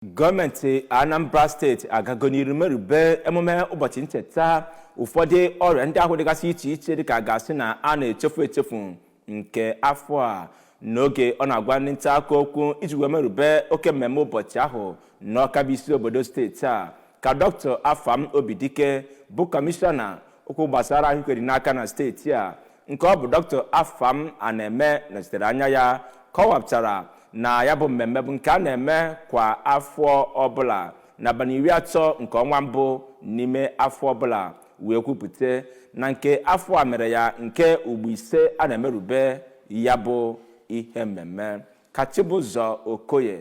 gọọmenti anambra steeti agago n'iru merube emume ụbọchị ncheta ụfọdụ ọrịa ndị ahụ dịgasị iche iche dịka a ga-asị na a na-echefu echefu nke afọ a n'oge ọ na-agwa ndị nta akụkọ okwu iji wee merube oke mmemme ụbọchị ahụ n'ọka bụ isi obodo steeti a ka dr afam obidike bụ kọmishọna okwu gbasara ahụike dị n'aka na steeti a nke ọ bụ dr afam anaeme nọchitere anya ya kọwapụtara na ya bụ mmemme bụ nke a na-eme kwa afọ ọbụla n'abalị iri atọ nke ọnwa mbụ n'ime afọ ọbụla wee kwupụta na nke afọ a mere ya nke ugbo ise a na-emerube ya bụ ihe mmemme ka chibụzọ okoye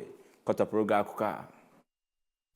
kọtọpụrụ gị akụkọ a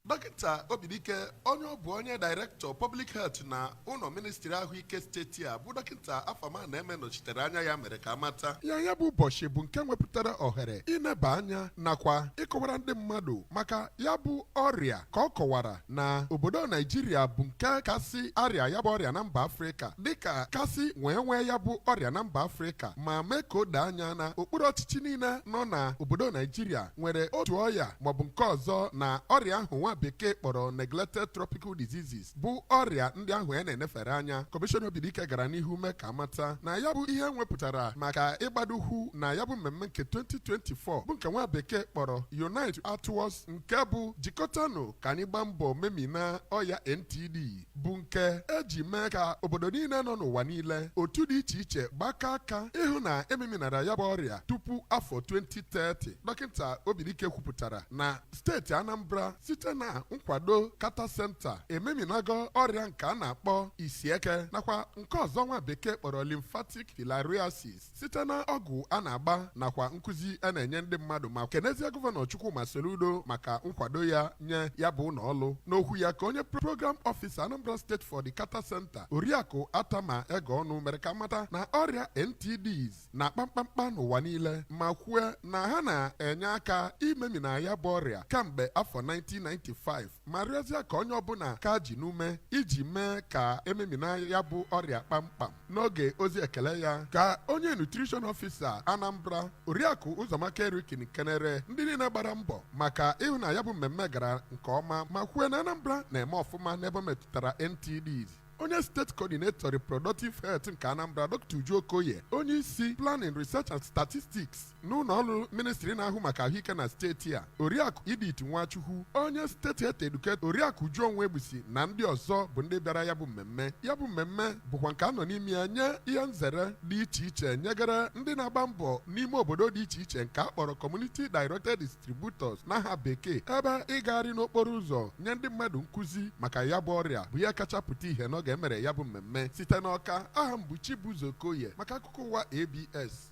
Dọkịta Obidike onye ọ bụ onye Director Public Health na ụlọ ministri ahụike steeti a bụ dọkịta Afam Anaeme nọchitere anya ya mere ka amata na ya bụ ụbọchị bụ nke nwepụtara ohere ịneba anya nakwa ịkọwara ndị mmadụ maka ya bụ ọrịa ka ọ kọwara na obodo Naijiria bụ nke kasị arịa ya bụ ọrịa na mba Afrịka dịka kasị wee nwee ya bụ ọrịa na mba Afrịka ma mee ka o doo anya na okpuru ọchịchị niile nọ na obodo Naijiria nwere otu ọya maọbụ nke ọzọ na ọrịa ahụ nwa bekee kpọrọ neglected tropical diseases bụ ọrịa ndị ahụ a na-enefere anya kọmishọna Obidike gara n'ihu mee ka amata na ya bụ ihe nwepụtara maka ịgbado ụkwụ na ya bụ mmemme nke 2024 bụ nke nwa bekee kpọrọ Unite Act Towards nke bụ jikọtanụ ka anyị gbaa mbọ memina ọya NTD bụ nke eji mee ka obodo niile nọ n'ụwa niile otu dị iche iche gbakọ aka ịhụ na ememinara ya bụ ọrịa tupu afọ 2030 dọkịta Obidike kwupụtara na steeti Anambra site na nkwado Carter Center ememinago ọrịa nke a na-akpọ isieke nakwa nke ọzọ nwa bekee kpọrọ lymphatic filariasis site na ọgwụ a na-agba nakwa nkụzi a na-enye ndị mmadụ ma kenezie gọvanọ Chukwuma Soludo maka nkwado ya nye ya bụ ụlọ ọrụ n'okwu ya ka onye program ọfisa Anambra steeti for the Carter Center oriakụ Atama Egeonu mere ka amata na ọrịa NTDs na-akpa mkpamkpa n'ụwa niile ma kwue na ha na-enye aka imemina ya bụ ọrịa kamgbe afọ 1995 ma rịọzie ka onye ọbụla ka ji n'ume iji mee ka ememina ya bụ ọrịa kpamkpam n'oge ozi ekele ya ka onye nutrition ọfisa anambra oriakụ ụzọamaka eriken kenere ndị niile gbara mbọ maka ịhụ na ya bụ mmemme gara nke ọma ma kwue na anambra na-eme ọfụma n'ebe metụtara ntds onye steeti coordinator reproductive health nke anambra dr uju okoye onye isi planning research and statistics n'ụlọ ọrụ ministri na-ahụ maka ahụike na steeti a oriakụ edith nwachukwu onye steeti health educator oriakụ uju onwuegbusi na ndị ọzọ bụ ndị bịara ya bụ mmemme ya bụ mmemme bụkwa nke a nọ n'ime ya nye ihe nzere dị iche iche nyegara ndị na-agba mbọ n'ime obodo dị iche iche nke a kpọrọ community directed distributors n'aha bekee ebe ịgagharị n'okporo ụzọ nye ndị mmadụ nkụzi maka ya bụ ọrịa bụ ihe kacha pụta ìhè n'oge e mere ya bụ mmemme site n'ọka aha m bụ chibụzọ okoye maka akụkọ ụwa abs